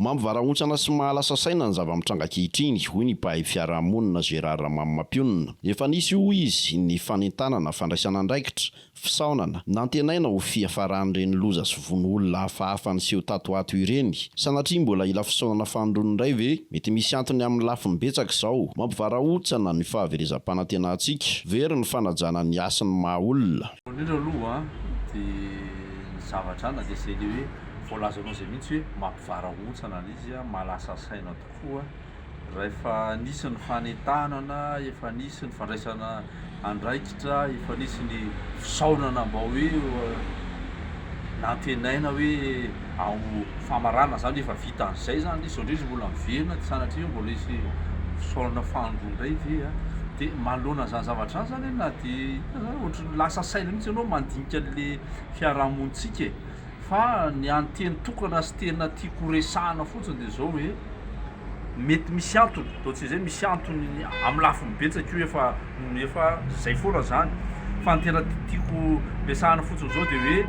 Mampivarahontsana sy mahalasa saina ny zava-mitranga ankehitriny, hoy ny mpahay fiarahamonina Gérard Ramamimampionona. Efa nisy, hoy izy, ny fanentanana, fandraisana andraikitra, fisaonana, nantenaina ho fiafaran'ireny loza sy vono olona hafahafa niseho tato ho ato ireny. Sanatria mbola hila fisaonana fanindroany indray ve? Mety misy antony amin'ny lafiny betsaka izao mampivarahontsana ny fahaverezam-panantenantsika. Very ny fanajana ny hasin'ny maha-olona. Voalohany indrindra aloha dia ny zavatra na dia izay le hoe voalazanao izay mihitsy hoe mampivarahontsana ilay izy, mahalasa saina tokoa rahefa nisy ny fanentanana, efa nisy ny fandraisana andraikitra, efa nisy ny fisaonana mba hoe nantenaina hoe. ao Famarana zany efa vita an'izay zany le zao ndray izy mbola miverina de sanatria mbola hisy fisaorana fahandroa ndray ve a? de manoloana an'izany zavatra izany zany na de inona zany ohatran'ny lasa saina mihitsy ianao mandinika an'le fiarahamonintsika e! fa ny an'ny teny tokana sy tena tiako horesahana fotsiny de zao hoe mety misy antony, ataontsika zay misy antony amin'ny lafiny betsaka io efa. efa zay foana zany fa ny tena tiako resahana fotsiny zao de hoe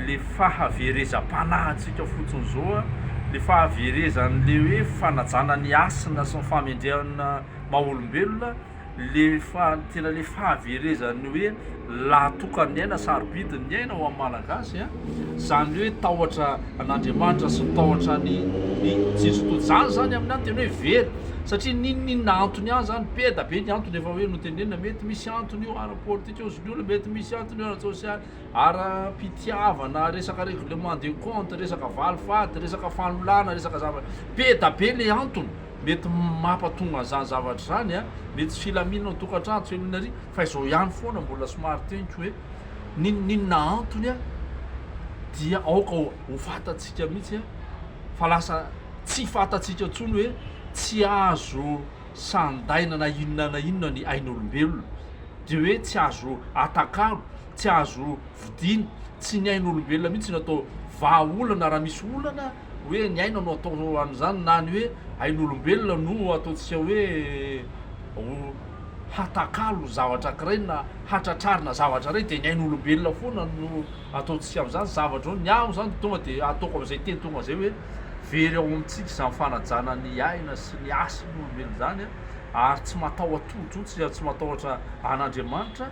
le fahaverezam-panahintsika fotsiny zao a le fahaverezan'le hoe fanajana ny hasina sy ny fahamendrehana maha olombelona le fa tena le fahaverezan'ny hoe lahatokan'ny aina, sarobidin'ny aina ho an'ny Malagasy an, zany hoe tahotra an'Andriamanitra sy tahotra an'i i Jesoa Tojo, zany zany aminy an, tena hoe very, satria n'inon'inona antony an zany, be da be ny antony efa hoe notenenina, mety misy antony io ara politika ozon'ny olona, mety misy antony io ara tsosialy, ara pitiavana, resaka règlement de compte, resaka valifaty, resaka fanolana, resaka zavatra, be da be le antony. Mety mapatonga an'izany zavatra izany an, mety tsy filaminana ao an-tokantrano, tsy filaminana ary, fa izao ihany foana mbola somary teniko hoe, n'inon'inona antony an, dia aoka ho fantatsika mihitsy an, fa lasa tsy fantatsika intsony hoe, tsy azo sandaina na inona na inona ny ain'olombelona, dia hoe tsy azo atakalo, tsy azo vidiana, tsy ny ain'olombelona mihitsy no atao vahaolana raha misy olana, hoe ny aina no atao an'izany na ny hoe ain'olombelona no ataontsika hoe ho hatakalo zavatra ankiray na hatratrarina zavatra iray dia ny ain'olombelona foana no ataontsika amin'izany zavatra izany. Ny ahy moa izany tonga dia ataoko amin'izay teny tonga izay hoe very ao amintsika izany fanajana ny aina sy ny hasin'olombelona izany ary tsy mataho-tojo, tsy matahotra an'Andriamanitra.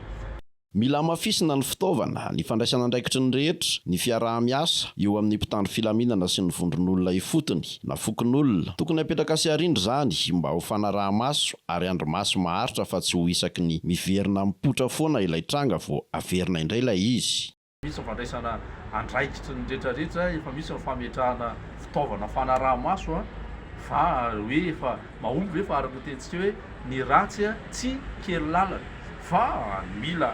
Mila hamafisina ny fitaovana, ny fandraisan'andraikitry ny rehetra, ny fiaraha-miasa eo amin'ny mpitandro filaminana sy ny vondron'olona ifotony na fokonolona. Tokony hapetraka sy harindra izany mba ho fanaraha-maso ary andrimaso maharitra fa tsy ho isaky ny miverina mipoitra foana ilay tranga vao averina indray ilay izy. Misy ny fandraisana andraikitry ny retraretra, efa misy ny fametrahana fitaovana fanaraha-maso fa hoe efa mahomby ve fa araka ny tenintsika hoe ny ratsy tsy kely lalana fa mila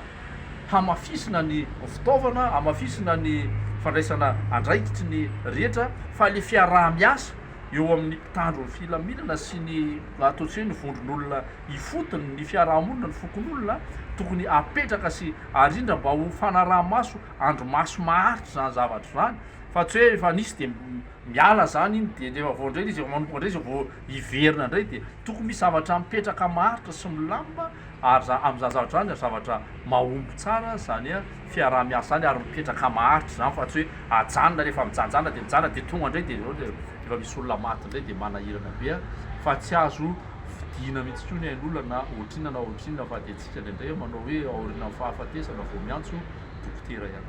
hamafisina ny fitaovana, hamafisina ny fandraisana andraikitry ny rehetra fa ilay fiaraha-miasa eo amin'ny mpitandro ny filaminana sy ny ataontsika hoe ny vondron'olona ifotony ny fiarahamonina ny fokonolona tokony apetraka sy arindra mba ho fanaraha-maso andro maso maharitra izany zavatra izany fa tsy hoe efa nisy dia miala izany iny dia rehefa vao indray ilay izy efa manomboka indray izay vao hiverina indray dia tokony misy zavatra mipetraka maharitra sy milamina ary za amin'izany zavatra izany ary zavatra mahomby tsara izany a fiaraha-miasa izany ary mipetraka maharitra izany fa tsy hoe ajanona rehefa mijanjana dia mijanona dia tonga indray dia efa misy olona maty indray dia manahirana be a fa tsy azo vidiana mihitsy koa ny ain'olona na ohatrinona na ohatrinona fa dia antsika indraindray manao hoe aorianan'ny fahafatesana vao miantso dokotera ihany.